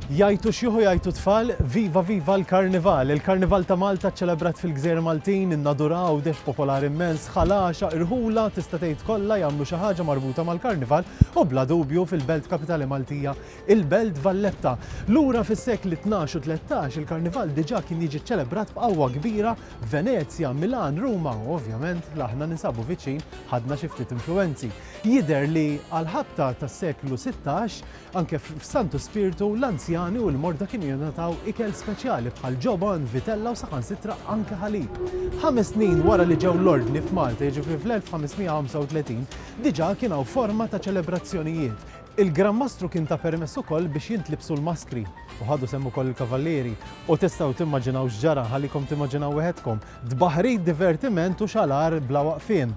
Jgħajtu xjuħ u jgħajtu tfal, Viva viva l-Karnival! Il-Karnival ta' Malta ċċelebrat fil-Gżejjer Maltin, in-Nadura, Għawdex, popolari mmens, Ħal Għaxaq, Irħula, tista' tgħid kollha jagħmlu xi ħaġa marbuta mal-Karnival u bla dubju fil-belt kapitali Maltija, il-Belt Valletta. Lura fis-sekli tnax u tlettax il-Karnival diġà kien jiġi ċċelebrat b'qawwa kbira f'Venezja, Milan, Ruma u ovvjament aħna ninsabu viċin ħadna xi ftit influwenzi. Jidher li għall-ħabta tas-seklu sittax, Anke f'Santu Spirtu, l-anzjani u l-morda kienu jingħataw ikel speċjali bħal ġobon, vitella u saħansitra anke ħalib. Ħames snin wara li ġew l-Ordni f'Malta, jiġifieri fl-1535, diġà kien hawn forma ta' ċelebrazzjonijiet. Il-Gran Mastru kien ta permess ukoll biex jintlibsu l-maskri, u ħadu sehem ukoll il-kavallieri. U tistgħu timmaġinaw x'ġara, nħallikom timmaġinaw weħedkom. Tbaħħrit, divertiment u xalar bla waqfien.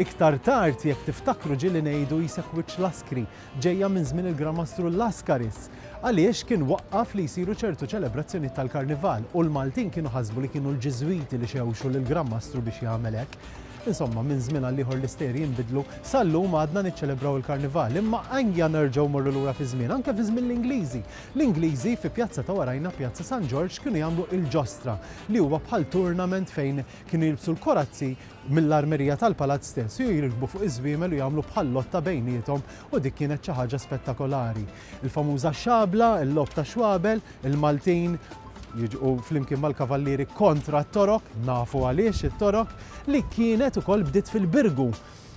Iktar tard, jekk tiftakru, ġieli ngħidu jseħħ wiċċ l-askri. ġejja minn żmien il-Gramastru Laskaris, għaliex kien waqqaf li jsiru ċertu ċelebrazzjonijiet tal-Karnival u l-Maltin kienu ħasbu li kienu l-Ġiżwiti li xewxu lill-Granmastru biex jagħmel hekk. Insomma, minn żmien għal ieħor l-istejjer jinbidlu, sa llum għadna niċċelebraw il-Karnival, imma ejja nerġgħu mmorru lura fiż-żmien, anke fi żmien l-Ingliżi. L-Ingliżi fi Pjazza ta' warajna, Pjazza San Ġorġ, kienu jagħmlu il-Ġostra, li huwa bħal tournament fejn kienu jilbsu l-korazzi, mill-armerija tal-palazz stess u jirkbu fuq iż-żwiemel u jagħmlu bħal lotta bejniethom u dik kienet xi ħaġa spettakolari. Il-famuża xabla, il-logħob tax-xwabel, il-Maltin jiġqu flimkien mal-kavallieri kontra t-Torok, nafu għaliex it-Torok, li kienet ukoll bdiet fil-Birgu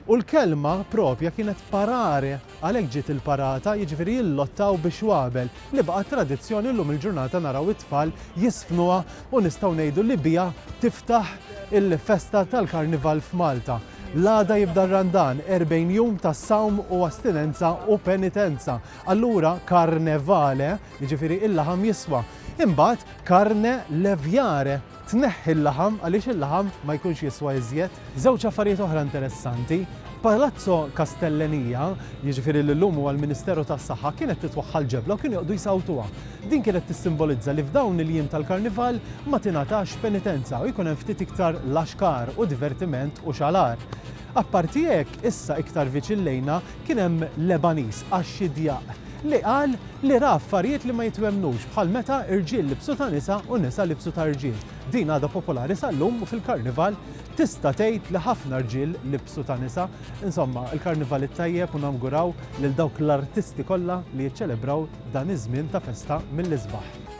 u l-kelma propja kienet parare. Għalhekk ġiet il-parata, jiġifieri jillottaw bix-xwabel, li baqgħet tradizzjoni llum il-ġurnata naraw it-tfal jiżfnuha u nistgħu ngħidu li biha tiftaħ il-festa tal-Karnival f'Malta. L-għada jibda r-Randan, 40 jum ta' sawm u astinenza u penitenza. Allura carne vale, jiġifieri il-laħam jiswa. Imbagħad carne leviare. Tneħħi l-laħam għaliex il-laħam ma jkunx jiswa iżjed. Żewġ affarijiet oħra interessanti, Palazzo Castellenija, jiġifieri li llum huwa l-Ministeru tas-Saħħa, kienet titwaħħal l-ġebla u kienu joqogħdu jsawtuha. Din kienet tissimbolizza li f'dawn il-jiem tal-Karnival ma tingħatax penitenza u jkun hemm ftit iktar laxkar u divertiment u xalar. Apparti hekk, issa iktar viċin lejna, Kien hemm Lebaniż, Axi Diaq, li qal li ra affarijiet li ma jitwemmnux, bħal meta rġiel libsu ta' nisa u nisa libsu ta' rġiel. Din għadha popolari sal-lum u fil-Karnival tista' tgħid li ħafna rġiel libsu ta' nisa. Insomma, il-Karnival it-tajjeb u nawguraw lil dawk l-artisti kollha li jiċċelebraw dan iż-żmien ta' festa mill-isbaħ.